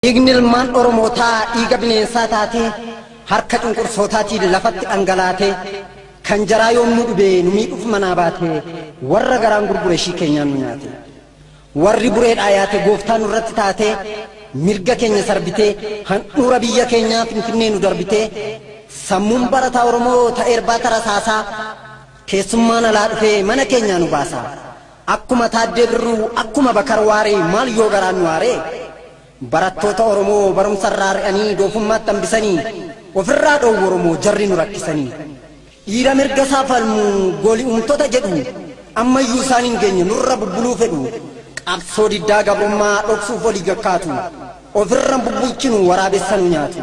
Dhiigni ilmaan Oromootaa dhiiga bineensaa taatee harka cunqursootaatiin lafatti dhangalaatee kan jaraa yoom nu dhibee nu miidhuuf manaa baatee warra garaan gurgure ishii keenyaan nu nyaate. Warri bureedhaa yaate gooftaa nurratti taatee mirga keenya sarbitee handhuura biyya keenyaa finfinnee nu darbitee sammuun barataa Oromoo ta'eerbaa tarasaasaa keessummaan alaa dhufee mana keenyaa nu baasaa. Akkuma Taaddee Birruu, akkuma Bakar Waaree maal yoo garaan nu aaree? Barattoota Oromoo barumsa irraa ari'anii doofummaatti hambisanii of irraa dhoowwu Oromoo jarri nu rakkisanii. Dhiira mirga isaa falmu gooli uumtota jedhu amma iyyuu isaan hin geenye nurra bubbuluu fedhu. Qabsoo diddaa gabrummaa dhoksuuf olii gad kaatu. Of irra hin bubbulchinu waraabessa nu nyaatu.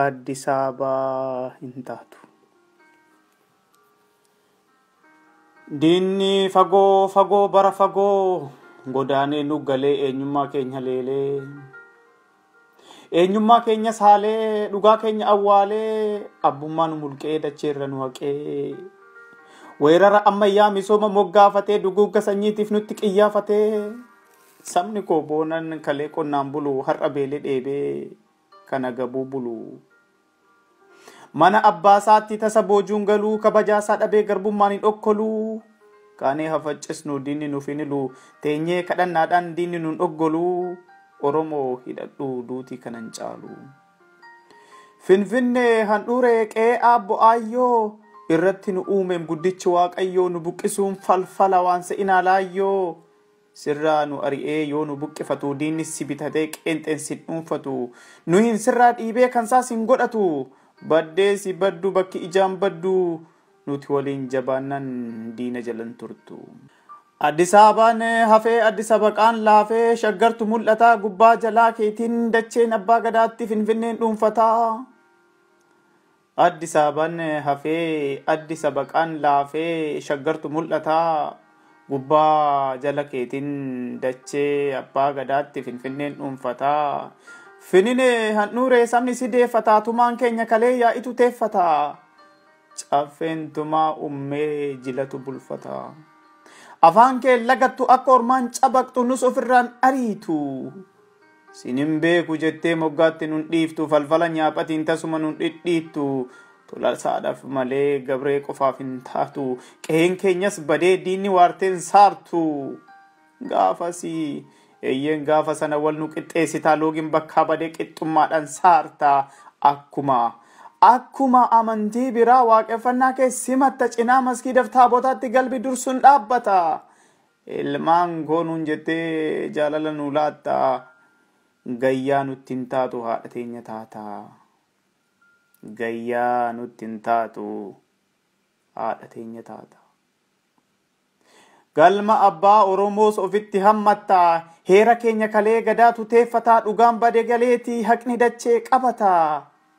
Aaddi Saabaa hin taatu. Diinni fagoo fagoo bara fagoo godaanee nu galee eenyummaa keenya leelee. Eenyummaa keenya saalee dhugaa keenya awwaalee abbummaa nu mulqee dacheerra nu haqee. Weerara ammayyaa misooma moggaafatee duguugga sanyiitiif nutti qiyyaafatee. Sabni koo boonan kalee qonnaan bulu har'a beelee dheebee. kan agabuu bulu. Mana abbaasaatti tasa boojuun galuu kabajaasaa dhabee garbummaan hin okkoluu. Kaanee hafaccisnu diinni nuuf hin hilu teenyee kadhannaadhaan diinni nun dhoggoluu. Oromoo hidhadhuu duutii kanan caalu. Finfinnee handhuuree qe'ee aabbo aayyoo irratti nu uumeem guddichi waaqayyoo nu buqqisuun falfala waan se'inaa laayyoo. Sirraa nu ari'ee yoo nu buqqifatu, diinnis si bitatee qeenxeen sin dhuunfatu. Nu hin sirraa dhiibee kansaa sin godhatu, baddee si baddu bakki ijaan baddu, nuti waliin jabaannan diina jala hin turtu. Addisaabaan hafee Addisabaqaan laafee, Shaggartu mul'ataa gubbaa jalaa keetiin, dacheen Abbaa Gadaatti Finfinneen dhuunfataa. Addi saaban hafee addi sabaqaan laafee shaggartu mul'ata gubbaa jala keetin dachee abbaa gadaatti finfinneen dhuunfata finine handhuuree sabni si deeffata tumaan keenya kalee yaa'itu teeffata caffeen tumaa ummee jilatu bulfata afaan kee lagattu akka ormaan cabaqxu nus ofirraan ariitu Sin hin beeku jettee moggaatti nun dhiiftu falfala nyaaphatiin tasuma nun dhidhiittu Tolasaadhaf malee Gabree qofaaf hin taatu Qeheen keenyas badee diinni waarteen saartu Gaafasi eyyeen gaafa sana wal nu qixxeessita Loogin bakkaa bade qixxummaadhan saarta Akkuma Akkuma amantii biraa waaqeffannaa kee simatta Cinaa maskiidaf taabotaatti galbi dursun dhaabbata Ilmaan koo nuun jettee jaalala nuu laatta Gayyaa nutti hin taatu haadha teenya taata Gayyaa nutti hin taatu haadha teenya taata Galma abbaa Oromoos ofitti hammatta Heera keenya kalee gadaatu teeffataa Dhugaan bade galeeti haqni dachee qabata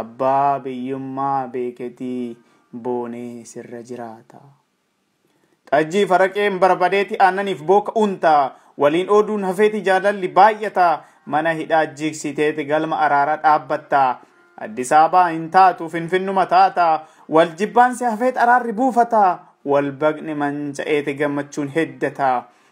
Abbaa biyyummaa beeketii boonee sirra jiraata. Xajjii faraqeen barbadeeti aannaniif booka unta. Waliin ooduun hafeeti jaalalli baay'ata. Mana hidhaa jigsiteeti galma araaraa dhaabbatta. Addis Ababaa hin taatu finfinnuma taata. Wal jibbaansi hafeet araarri buufata. Wal baqni manca'eeti gammachuun heddata.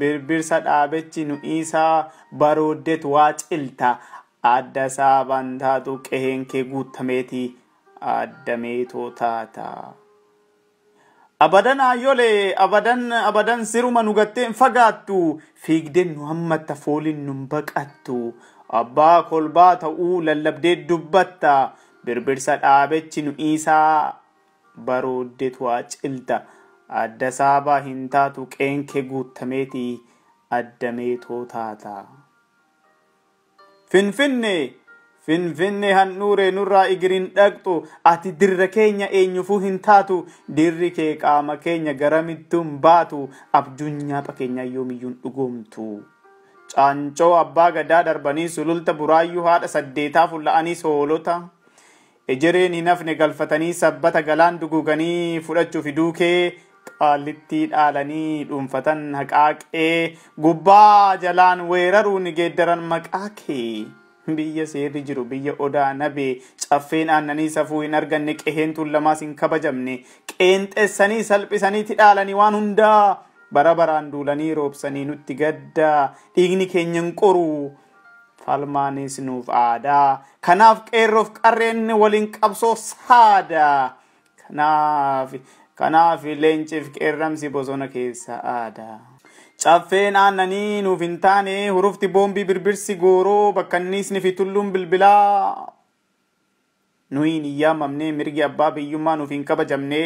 Birbirsa dhaabechi nu dhiisaa barooddeet waa cilta Adda isaa bantaatu qeheen kee guuttameeti Adda meetoo taata Abadan Aayyole abadan abadan siruma nu gattee hin fagaattu Fiigdeen nu hammatta fooliin nun baqattu Abbaa kolbaa ta'uu lallabdee dubbatta Birbirsa dhaabechi nu dhiisaa barooddetu acilta Adda saabaa hin taatu qeenke guuttameeti adda meetoo taata. Finfinne! Finfinne handhuure nurraa igir hin dhaqxu Ati dirra keenya eenyufuu hin taatu Dirri kee qaama keenya garamittuu hin baatu Abjuun nyaapha keenyaa yoomiyyuu hin dhugoomtu Caancoo abbaa gadaa darbanii sululta buraayyuu haadha saddeetaa fulla'aniis hoolota Ejereen hin hafne galfatanii sabbata galaan duguuganii fudhachu fiduu kee qaallittii dhaalanii dhuunfatan haqaa qee gubbaa jalaan weeraruun geeddaran maqaa kee biyya seerri jiru biyya odaa nabee caffeen aannanii safuu hin arganne qeheen tuullamaas hin kabajamne qeenxessanii salphisanii tidhaalanii waan hundaa bara baraan duulanii roobsanii nutti gadda dhiigni keenyan qoruu Falmaanis nuuf aadaa. Kanaaf qeerroof qarreen waliin qabsoo saada. Kanaaf kanaaf leenciif qeerramsi bosona keessa aada. Caffeen aannanii nuuf hin taane hurufti boombii birbirsi gooroo bakkanniisni fi tulluun bilbilaa Nuyi hin iyyaamamne, mirgi abbaa biyyummaa nuuf hin kabajamne,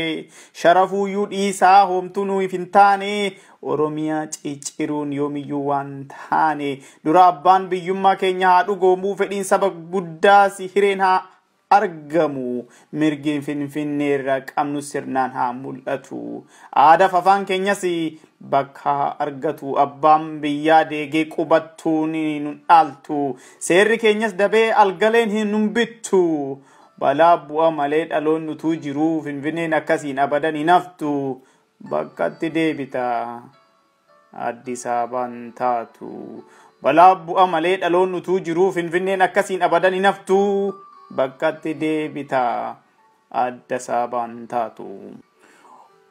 sharafuuyyuu dhiisaa hoomtuu nuuf hin taane, Oromiyaa cicciruun yoomiyyuu waan taane, dura abbaan biyyummaa keenya haa dhugoomuu, fedhiin saba guddaas hireen haa argamu, mirgi Finfinneerra qabnus sirnaan haa mul'atu, aadaaf afaan keenyas bakka haa argatu, abbaan biyyaa deegee qubattuun nun dhaaltu, Seerri keenyas dabee algaleen hin humbittu. Balaa bu'a malee dhaloonni utuu jiruu Finfinneen akkasiin abadan hin haftu. Bakkatti deebita. Addis Ababaan taatu. Balaa bu'a malee dhaloonni utuu jiruu Finfinneen akkasiin abadan hin haftu. Bakkatti deebita. adda saabaan hin taatu.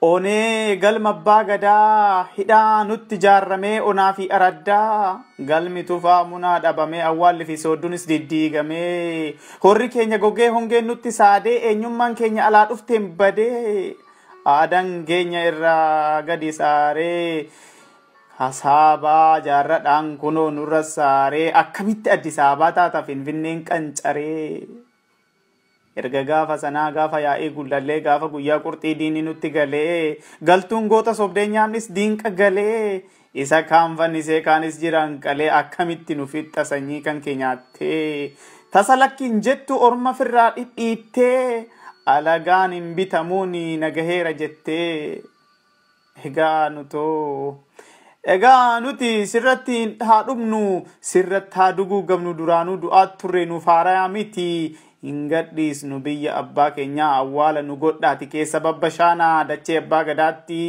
Onee galma abbaa gadaa hidhaa nutti jaarramee onaa fi araddaa galmi tufaa munaa dhabamee awwaalli fi sooddunis diddiigamee horri keenya gogee hongeen nutti saadee eenyummaan keenya alaa dhufteen badee aadan keenya irraa gadi saaree hasaabaa jaarradhaan kunoo nurra saaree akkamitti addisaabaa taata finfinneen qancaree. Erga gaafa sanaa gaafa yaa'ii gullallee gaafa guyyaa qurxii diinni nutti galee galtuun goota sobdee nyaannis diinqa galee isa kaan fannisee kaanis jiraan qalee akkamitti nu fixxa sanyii kan kee nyaattee tasa lakkiin jettu orma firraa dhidhiittee alagaan hin bitamuun nagaheera jettee. Egaa nutoo. Egaa nuti sirratti hin haa dhumnu, sirratti haa duguugamnu duraanuu du'aat turre nuuf haarayaa miti. Hin gadhiisnu biyya abbaa keenyaa awwaala nu godhaati keessa babbashaana dachee abbaa gadaatti.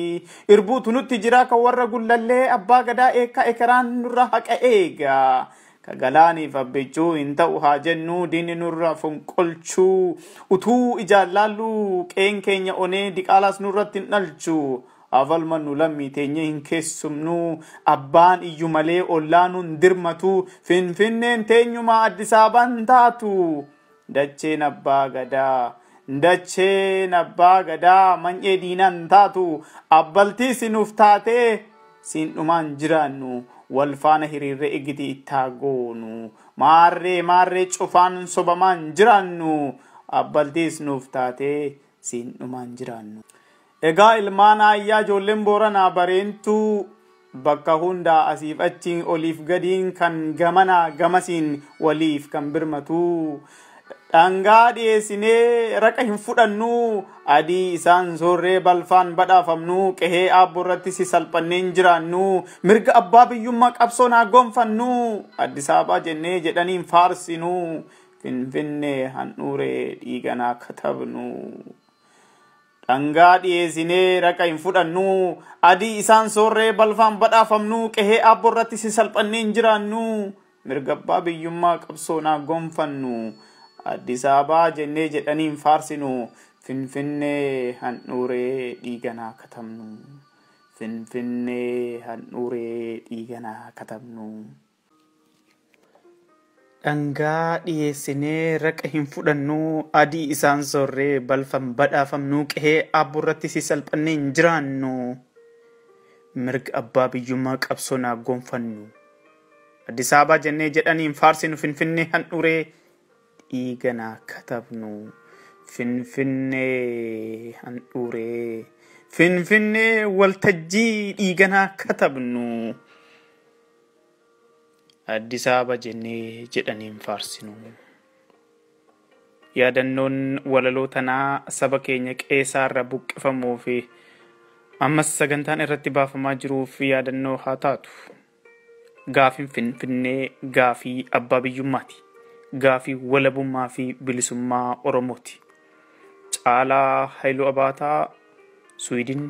Irbuutu nutti jira kan warra gullallee abbaa gadaa eekkaa ekeraan nurra haqa eega. Ka galaaniif abbichuu hin ta'u haa jennuu diinni nurra fonqolchuu utuu ijaan laalluu qeen keenya onee diqaalaas nurratti hin dhalchu haa falmannu lammii teenyee hin keessumnuu abbaan iyyu malee ollaa nun dirmatuu finfinneen teenyumaa addisaabaan taatu Dacheen Abbaa Gadaa! Dacheen Abbaa Gadaa many'ee diinaan taatu abbaltii si nuuf taatee siin dhumaan jiraannu wal faana hiriirree igitii ittaa goonu maarree maarree cufaan sobamaan jiraannu abbaltiis nuuf taatee siin dhumaan jiraannu. Egaa ilmaan aayyaa ijoolleen Booranaa Bareentuu bakka hundaa asiif achiin oliif gadiin kan gamanaa gamasiin waliif kan birmatuu dhangaa dhiyeessinee raqa hin fudhannuu adii isaan soorree balfaan badhaafamnuu qehee aabbo irratti si salphanneen jiraannuu mirga abbaa biyyummaa qabsoon haa gonfannuu Addis Ababaa jennee jedhaniin faarsinuu finfinnee handhuuree dhiiganaa katabnuu. Dhangaa dhiyeesinee raqa hin fudhannuu, adii isaan soorree balfaan badhaafamnuu, qehee aabbo irratti si salphannee hin jiraannuu, mirga abbaa biyyummaa qabsoon haa gonfannu, Addis Ababaa jennee jedhanii hin faarsinu, Finfinnee handhuuree dhiigan haa katabnu, Finfinnee handhuuree dhiigan haa katabnu. Dhangaa dhiyeessinee raqa hin fudhannuu adii isaan soorree balfan badhaafamnuu qehee aabbo irratti si salphannee hin jiraannu mirga abbaa biyyummaa qabsoon haa gonfannu Addis Ababaa jennee jedhanii hin faarsinu finfinnee handhuree dhiigan haa katabnu finfinnee handhuree finfinnee waltajjii dhiigan haa katabnu. Addis Ababa jennee jedhanii hin faarsinu. Yaadannoon walaloo tanaa saba keenya qeesaa irra buqqifamuu fi ammas sagantaan irratti baafamaa jiruuf yaadannoo haa taatu. Gaafiin Finfinnee gaafii abbaa biyyummaati. Gaafii walabummaa fi bilisummaa Oromooti. Caalaa Hailuu Abaataa, Sweden,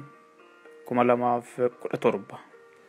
2017.